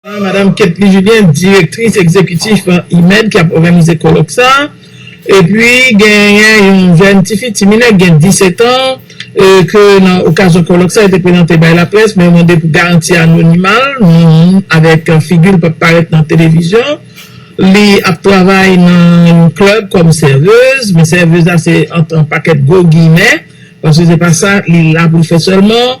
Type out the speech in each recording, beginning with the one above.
Madam Ketly Julien, direktris egzekitif IMED ki ap òganize kolòk sa a. Epi genyen yon jèn tifi, ti minè ki gen 10 etan ke nan okazyon kolòk sa a li te prezante bay laprès men yo mande pou garanti anonima l, non l avèk figi l p ap parèt nan televizyon. Li ap travay nan yon klèb kòm sèvez men sèvez la se ant yon pakèt gwo giyimè paske se pa sa li la pou l fè sèlman.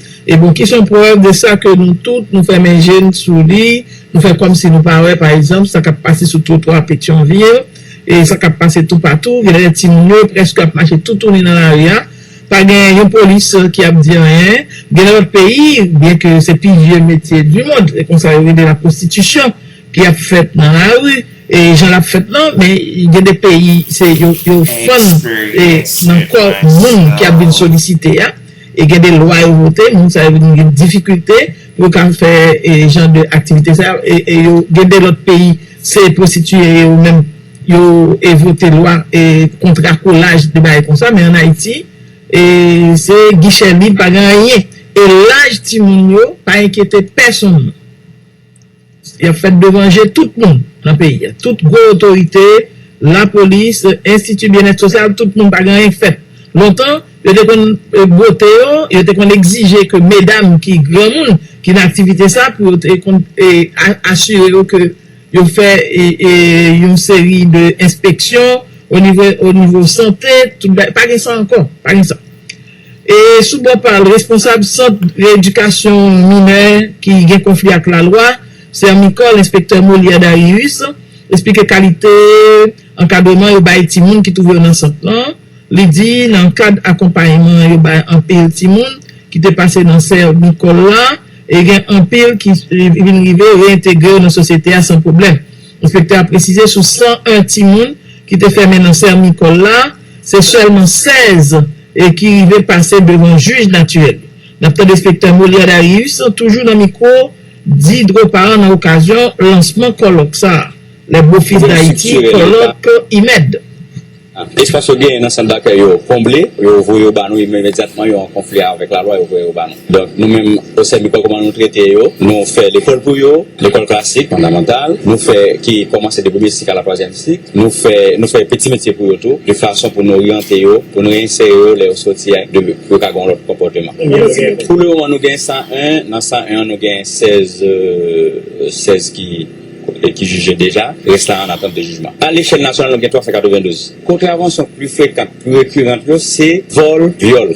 E bon ki son prèv de sa ke nou tout nou fèmen je n sou li, nou fè kòm si nou pa wè pa egzanp sa k ap pase sou twotwa Petyonvil, e sa k ap pase toupatou, gen lè timoun yo prèske ap mache toutouni nan lari a, pa gen yon polis ki ap di anyen, gen nan lòt peyi, byen ke se pi vye metye di mond, se konsa yo rele laprostitisyon ki ap fèt nan lari, e jan l ap fèt lan, men gen de peyi se yo fann nan kò moun ki ap vin solisite a. E gen de lwa yo vote, moun sa yo vin gen difikilte pou yo ka fè jan de aktivite sa yo. E yo gen de lòt peyi, se pwostitiye yo menm yo vote lwa kont rakolaj de bagay konsa. Men an Ayiti, se gichè lib, pa gen anyen. E laj timoun yo pa enkyete pèsonn. Y ap fèt devan je tout moun nan peyi a, tout gwo otorite, lapolis, enstiti byennèt sosyal, tout moun, pa gen anyen k fèt. Lontan, yo te konn bwote yo, yo te konn egzije ke medam ki granmoun, ki nan aktivite sa, pou yo te konn asire yo ke yo fè yon seri de enspeksyon onivo sante, tout bagay, pa gen sa ankò, pa gen sa. E sou bò pa l, responsab sant reedikasyon minè ki gen konfli ak lalwa, Sermicol, enspektè Molière Darius, esplike kalite ankadreman yo bay timoun ki twouve yo nan sant lan. Li di nan kad akonpayman yo bay anpil timoun ki te pase nan Sermicol la, e gen anpil ki vin rive reyentegre yo nan sosyete a san pwoblèm. Enspektè a presize sou 101 timoun ki te fèmen nan Sermicol la, Se sèlman 16 ki rive pase devan jij natirèl. N ap tande enspektè Molière Darius toujou nan mikwo Di Dropart nan okazyon lansman kòlòk sa a Les Beaux Fils d'Haïti, Kòlòk IMED. Espas yo genyen nan sant dakèy yo konble, yo voye yo ba nou imedyatman, yo an konfli avèk lalwa, yo voye yo ba nou. Donk nou menm osè mikò kòman nou trete yo, nou fè lekòl pou yo, lekòl klasik, fondamantal, nou fè ki kòmanse de premye sik a la twazyèm sik, nou fè nou fè peti metye pou yo tou de fason pou nou oryante yo, pou nou reinsere yo lè yo soti a de pou yo ka gen yon lòt konpòteman. Pou le moman nou gen 101, nan 101 an nou gen 16 16 ki ki jije deja, rès la an atant de jijman. A lechèl nasyonal nou gen 392. Kontravansyon pli frekan, pli rekirant yo se vòl, vyòl.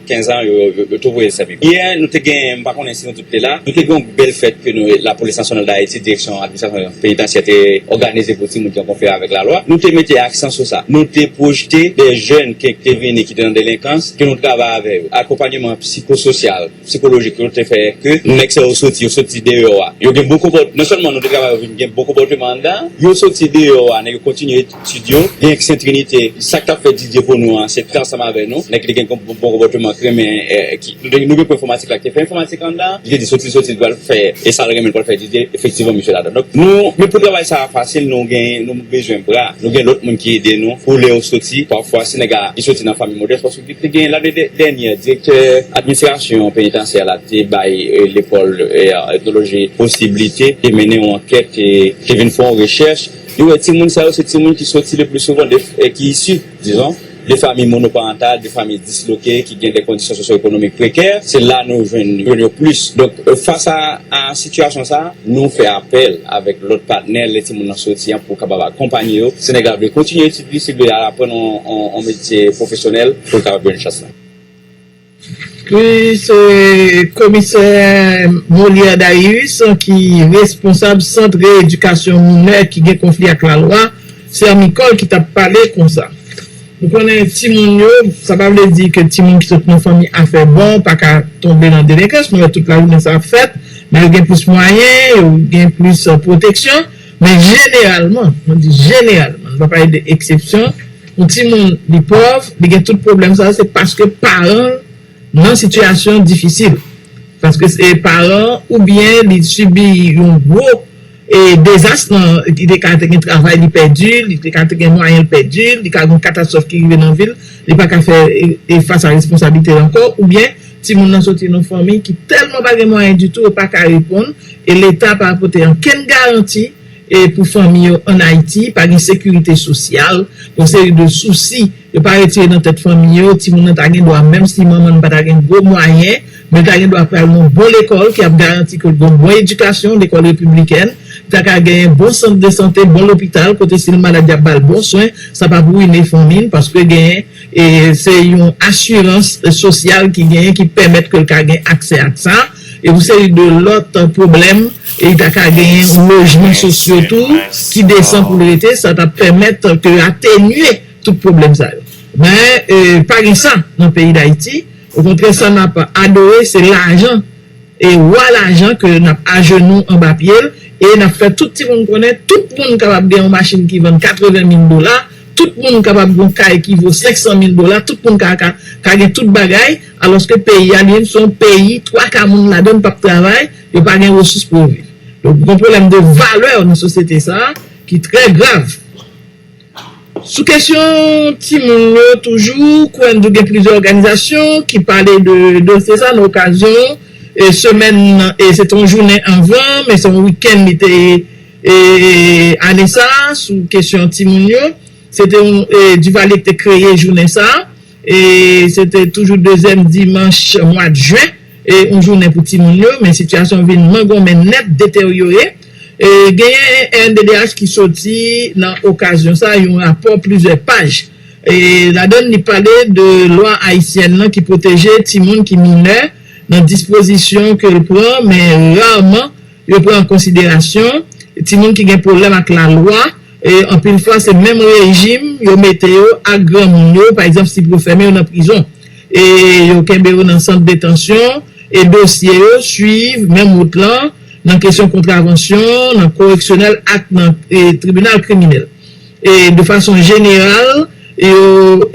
15 ans yo tou voye sèvi. Yè nou te gen, m pa konnen si nou tout te la, nou te gen yon bèl fèt ke nou Lapolis Nasyonal Dayiti, Direksyon Administrasyon Penitansyè te òganize pou timoun ki an konfli avèk lalwa. Nou te mete aksan sou sa. Nou te pwojte dè jèn ke ki te vini ki te nan delenkans ke nou travay avè yo. Akonpanyeman psikososyal, psikolojik yo te fè ke nèg sa yo soti, yo soti deyò a. Yo gen bon konpòt, non sèlman nou te travay yo vin gen bon konpòteman anndan, yo soti deyò a nèg yo kontinye. Studio Gen Saint Trinite sak tap fè DJ pou nou an se fè ansanm avè nou nèg li gen bon konpòteman ki renmen nou gen pou enfòmatik la ki te fè enfòmatik la anndan li te di soti li soti li pral fè e sal renmen li pral fè DJ efektivman misye ladann donk nou men pou travay sa fasil nou gen nou bezwen bra nou gen lòt moun ki ede nou pou lèw soti pafwa si nèg a li soti nan fanmi modès paske li te gen la de dènyè direktè administrasyon penitansye a la te bay lekòl etnoloji posiblite te mennen yon ankèt te vin fè yon rechèch. Li wè timoun sa yo se timoun ki soti le pli souvan de e ki isi, dizon, de famiy monoparantal, de famiy disloke, ki gen de kondisyon sosyoekonomik prekè, se la nou jwenn jwenn yo plis. Donk, fas a a sitiyasyon sa a, nou fè apèl avèk lòt patnè lè timoun nan soti an pou kapab akonpanye yo. Si nèg la vle kontinye etid li, si li vle al aprann on on metye pwofesyonèl pou l kapab jwenn chans la. Li se Komisè Molière Daïus ki responsab Sant Reyedikasyon Minè ki gen konfli ak lalwa, Sermicol, ki t ap pale konsa. Nou konnen timoun yo, sa pa vle di ke timoun ki sot nan fanmi a fè bon pa ka tonbe nan delenkans, nou wè tout lajounen sa ap fèt, men yo gen plis mwayen, yo gen plis pwoteksyon, men jeneralman, mwen di jeneralman, nou pa pale de eksepsyon, Yon timoun li pòv, li gen tout pwoblèm sa yo se paske paran l nan sitiyasyon difisil. Paske se paran oubyen li sibi yon gwo dezas nan, li te ka te gen travay li pèdi, li te ka te gen mwayen l pèdi, li ka gen yon katastwòf ki rive nan vi l, li pa ka fè fas a responsablite l ankò oubyen timoun nan soti nan fanmi ki tèlman pa gen mwayen ditou yo pa ka reponn e leta pa pote ankenn garanti pou fanmi yo an Ayiti, pa gen sekirite sosyal, yon seri de sousi yo pa retire nan tèt fanmi yo, timoun nan ta gen dwa menm si manman n pa ta gen gwo mwayen, men l ta gen dwa pral nan bon lekòl ki ap garanti ke l gon bon edikasyon, lekòl repiblikèn, li ta ka genyen bon sant de sante, bon lopital kote si l malad y ap ba l bon swen, sa p ap ruine fanmi n paske genyen se yon asirans sosyal ki genyen ki pèmèt ke l ka gen aksè ak sa. e pou seri de lòt pwoblèm, e li ta ka genyen yon lojman sosyo tou ki desan pou l rete, sa t ap pèmèt ke yo atenye tout pwoblèm sa yo. Men, pa gen sa nan peyi Dayiti, okontrè sa n ap adore se lajan, e wa lajan ke n ap ajenou anba pye l, e n ap fè tout ti moun konnen tout moun kapab gen yon machin ki vann 80 mil dola, tout moun kapab gen yon kay ki vo 500 mil dola, tout moun ka gen tout bagay. Alòske peyi a li menm se yon peyi twa ka moun ladan l p ap travay, yo pa gen resous pou yo viv. Donk gen pwoblèm de valè nan sosyete sa a ki trè grav. Sou kesyon timoun yo toujou, Kouen-Dou gen plizyè òganizasyon ki pale de dosye sa a nan okazyon semèn, se te yon jounen anvan men se yon wikenn li te ye ane sa a sou kesyon timoun yo. Se te yon Duvalier ki te kreye jounen sa a. E se te toujou dezyèm dimanch mwad jen, e yon jounen pou timoun yo, men sitiyasyon vin mangonmen nèt, deteryore. E genyen rnddh ki soti nan okazyon sa yon rapò plizyè paj. E ladann li pale de lwa ayisyèn lan ki pwoteje timoun ki minè nan dispozisyon ke l pran men rarman Yo pran an konsiderasyon timoun ki gen pwoblèm ak lalwa, anpil fwa se menm rejim yo mete yo ak granmoun yo, pa egzanp si pou yo fèmen yo nan prizon, yo kenbe yo nan sant detansyon, e dosye yo swiv menm wout lan nan kesyon kontravansyon, nan koreksyonèl ak nan tribinal kriminèl. De fason jeneral, yo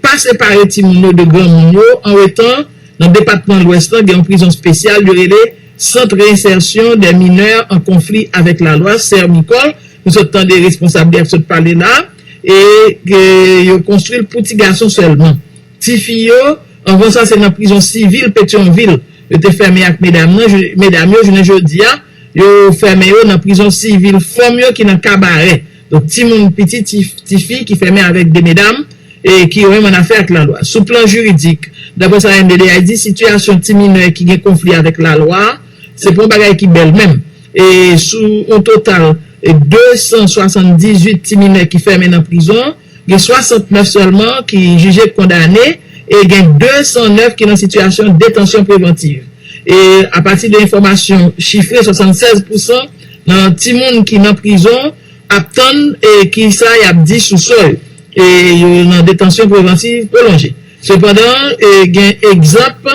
pa separe timoun yo de granmoun yo, anwetan nan depatman Lwès lan gen yon prizon spesyal yo rele. Centre Réinsertion des Mineurs en Conflit avec la Loi, CRMICOL, nou sot tande responsab li ap sot pale la a, e ke yo konstwi l pou ti gason sèlman. Ti fi yo, anvan sa se nan prizon sivil Petyonvil yo te fèmen ak medam nan, medam yo jounen jodi a, yo fèmen yo nan prizon sivil fanm yo ki nan Kabarè. Donk timoun piti tifi ki fèmen avèk de medam e ki yo menm an afè ak lalwa. Sou plan jiridik, daprè sa MDDH di, sitiyasyon ti minè ki gen konfli avèk lalwa se pa yon bagay ki bèl menm. E sou yon total 278 ti minè ki fèmen nan prizon, gen 69 sèlman ki jije kondane e gen 209 ki nan sitiyasyon detansyon prevantiv. E apati de enfòmasyon chifre, 76 pousan Nan timoun ki nan prizon ap tann kisa yap di sou sò yo, yo nan detansyon prevantiv pwolonje. Sepandan, gen egzanp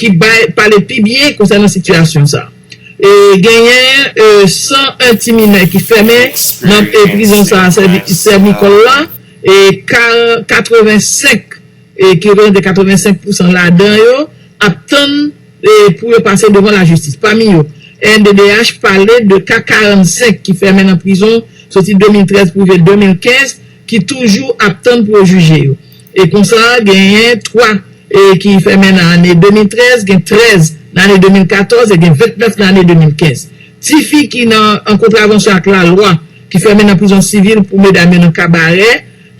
ki pale pi byen konsènan sitiyasyon sa. Genyen 101 ti minè ki fèmen nan prizon sa Sèmikòl la, 85. e ki reprezante 85 pousan ladan yo, ap tann pou yo pase devan lajistis. Pami yo, rnddh pale de ka 45 ki fèmen nan prizon soti 2013 pou rive 2015 ki toujou ap tann pou yo jije yo. E konsa, genyen 3 ki fèmen nan ane 2013, gen 13 nan ane 2014 e gen 29 nan ane 2015. Tifi ki nan an kontravansyon ak lalwa ki fèmen nan prizon sivil pou medam yo nan kabarè,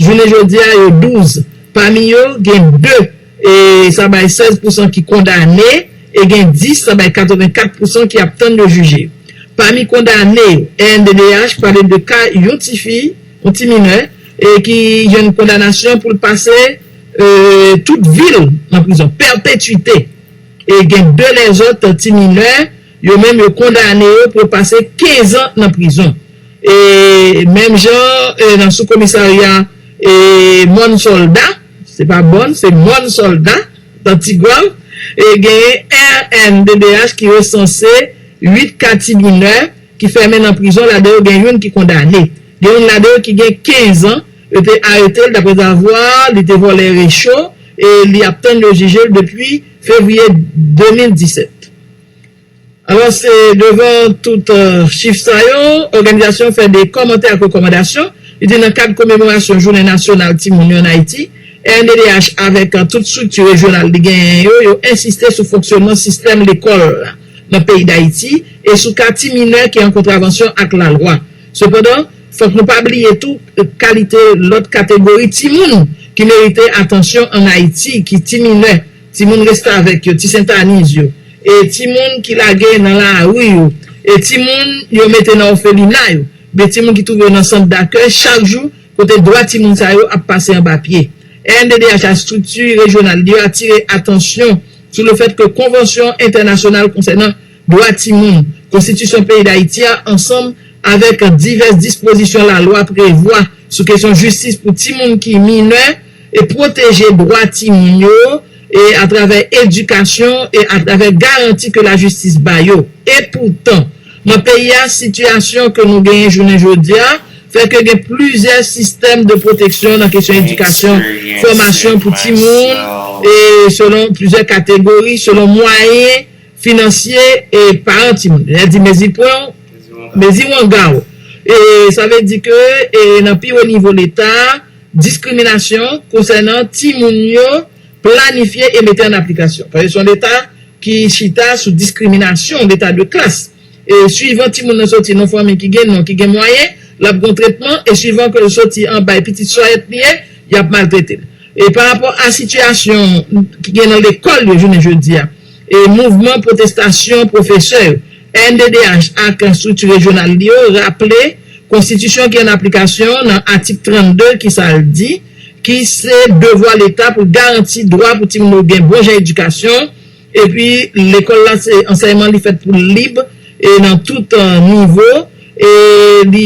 Jounen jodi a, yo 12. Pami yo, gen 2, e sa bay 16 pousan ki kondane, e gen 10, sa bay 84 pousan ki ap tann yo jije. Pami kondane yo, rnddh pale de ka yon ti fi, yon ti minè, ki jwenn kondanasyon pou l pase tout vi l nan prizon, pèpetuite, e gen 2 lèzòt ti minè. Yo menm yo kondane yo pou yo pase 15 an nan prizon. E menm jan nan sou komisarya mòn sòlda, se pa bòn, se mòn sòlda, nan Tigwav, genyen rnddh ki resanse 8 ka ti minè ki fèmen nan prizon, ladan yo gen youn ki kondane. Gen youn ladan yo ki gen 15 an, yo te arete l daprèzavwa li te vòlè recho e li ap tann yo jije l depi fevriye 2017. Alò se devan tout chif sa yo, òganizasyon an fè de kòmantè ak rekòmandasyon. Li di nan kad komemorasyon jounen nasyonal timoun yo an Ayiti, rnddh avèk tout estrikti rejyonal li genyen yo, yo ensiste sou fonksyònman sistèm lekòl la nan peyi Dayiti e sou ka ti minè ki an kontravansyon ak lalwa. Sepandan, fòk nou pa bliye tou kalite lòt kategori timoun ki merite atansyon an Ayiti ki ti minè, timoun restavèk yo, ti sentaniz yo, e timoun ki lage nan lari yo, e timoun yo mete nan òfelina yo, oubyen timoun ki twouve yo nan sant dakèy chak jou, kote dwa timoun sa yo ap pase anba pye. Rnddh a estrikti rejyonal li yo atire atansyon sou le fèt ke Konvansyon entènasyonal konsènan dwa timoun, Konstitisyon peyi Dayiti a ansanm avèk divès dispozisyon lalwa prevwa sou kesyon jistis pou timoun ki minè, e pwoteje dwa timoun yo e atravè edikasyon e atravè garanti ke lajistis ba yo. Epoutan, nan peyi a, sitiyasyon ke nou genyen jounen jodi a, fè ke gen plizyè sistèm de pwoteksyon nan kesyon edikasyon, fòmasyon pou timoun e selon plizyè kategori, selon mwayen finansye e paran timoun. Lè di mezi pwen w, mezi wanga w. E sa vle di ke e nan pi wo nivo Leta, diskriminasyon konsènan timoun yo planifye e mete an aplikasyon. Paske se yon Leta ki chita sou diskriminasyon, Leta de klas. E swivan timoun nan soti nan fanmi ki gen non, ki gen mwayen, l ap gen yon tretman, e swivan ke l soti anba e pitit sòyèt li ye, y ap maltrete l. E parapò a sitiyasyon ki gen nan lekòl yo jounen jodi a, Mouvman pwotestasyon pwofesè yo, rnddh, ak estrikti rejyonal li yo raple konstitisyon ki an aplikasyon nan atik 32 ki sa l di, ki se devwa leta pou l garanti dwa pou timoun yo gen bon jan edikasyon epi lekòl la se ansèyman li fèt pou l lib e nan tout nivo. e li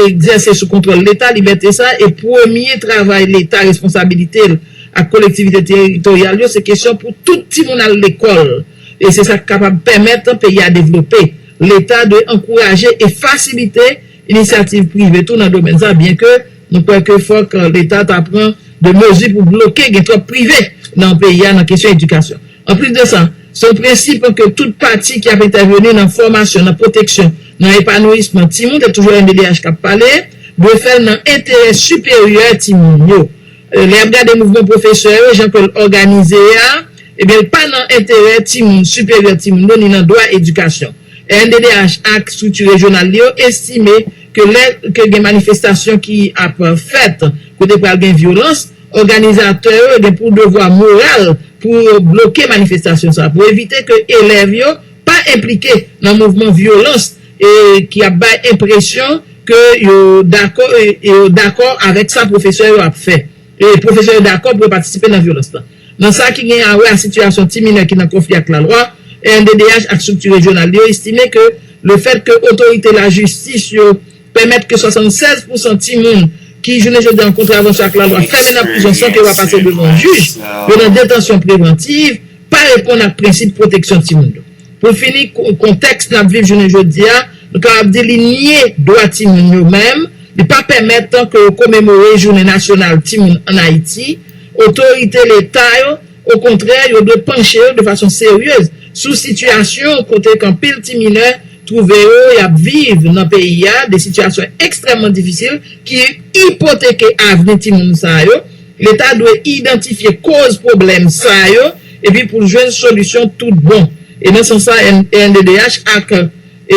egzèse sou kontwòl Leta, libète sa e premye travay Leta responsabilite l ak kolektivite teritoryal yo se kesyon pou tout timoun al lekòl e se sa k kapab pèmèt peyi a devlope. Leta dwe ankouraje e fasilite inisyativ prive tou nan domèn sa byenke Nou kwè ke fòk Leta ta pran de mezi pou bloke gen twòp prive nan peyi a nan kesyon edikasyon. Anplis de sa, se yon prensip ke tout pati ki ap entèveni nan fòmasyon, nan pwoteksyon, nan epanouyisman timoun, se toujou MDDH k ap pale, dwe fè l nan enterè siperyè timoun yo. Lè y ap gade mouvman pwofesè yo, jan ke l òganize a, ebyen l pa nan enterè timoun, siperyè timoun yo, ni nan dwa edikasyon. Rnddh ak strikti rejyonal li yo estime ke lè ke gen manifestasyon ki ap fèt kote pral gen vyolans, òganizatè yo gen pou devwa moral pou yo bloke manifestasyon sa a pou evite ke elèv yo pa enplike nan mouvman vyolans e ki ap bay enpresyon ke yo dakò e yo dakò avèk sa pwofesè yo ap fè e pwofesè yo dakò pou yo patisipe nan vyolans la. Nan sa ki gen a wè a sitiyasyon ti minè ki nan konfli ak lalwa, rnddh ak strikti rejyonal li yo estime ke lefèt ke otorite lajistis yo pèmèt ke 76 pousan timoun ki, jounen jodi a, an kontravansyon ak lalwa fèmen nan prizon san ke yo pa pase devan yon jij, yo nan detansyon prevantiv, pa reponn ak prensip pwoteksyon timoun yo. Pou fini, kontèks n ap viv jounen jodi a, nou kapab di li nye dwa timoun yo menm, li pa pèmèt ke yo komemore jounen nasyonal timoun ann Ayiti. Otorite Leta yo, okontrè, yo dwe panche yo de fason seryez sou sitiyasyon kote k anpil ti minè twouve yo y ap viv nan peyi a, de sitiyasyon ekstrèmman difisil ki ipoteke avni timoun sa yo. Leta dwe idantifye koz pwoblèm sa yo epi pou l jwenn solisyon tout bon. E nan sans sa rnddh ak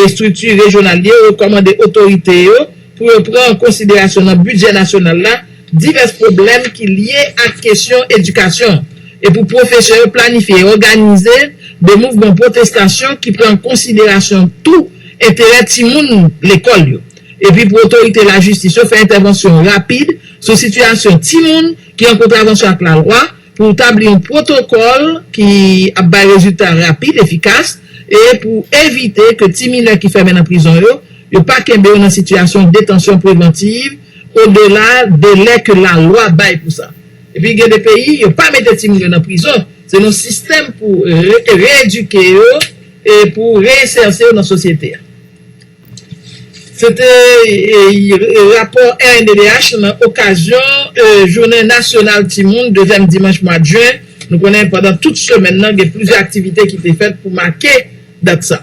estrikti rejyonal li yo rekòmande otorite yo pou yo pran an konsiderasyon nan bidjè nasyonal la divès pwoblèm ki lye ak kesyon edikasyon e pou pwofesè yo planifye e òganize de mouvman pwotestasyon ki pran an konsiderasyon tou enterè timoun lekòl yo. epi pou otorite lajistis yo fè entèvansyon rapid sou sitiyasyon timoun ki an kontravansyon ak lalwa pou tabli yon pwotokòl ki ap bay rezilta rapid, efikas e pou evite ke ti minè ki fèmen nan prizon yo, yo pa kenbe yo nan sitiyasyon detansyon prevantiv odela delè ke lalwa bay pou sa. Epi gen de peyi, yo pa mete timoun yo nan prizon, se nan sistèm pou reedike yo e pou reinserse yo nan sosyete a. Se te rapò rnddh nan okazyon jounen nasyonal timoun dezyèm dimanch mwa jen. Nou konnen pandan tout semèn nan gen plizyè aktivite ki te fèt pou make dat sa.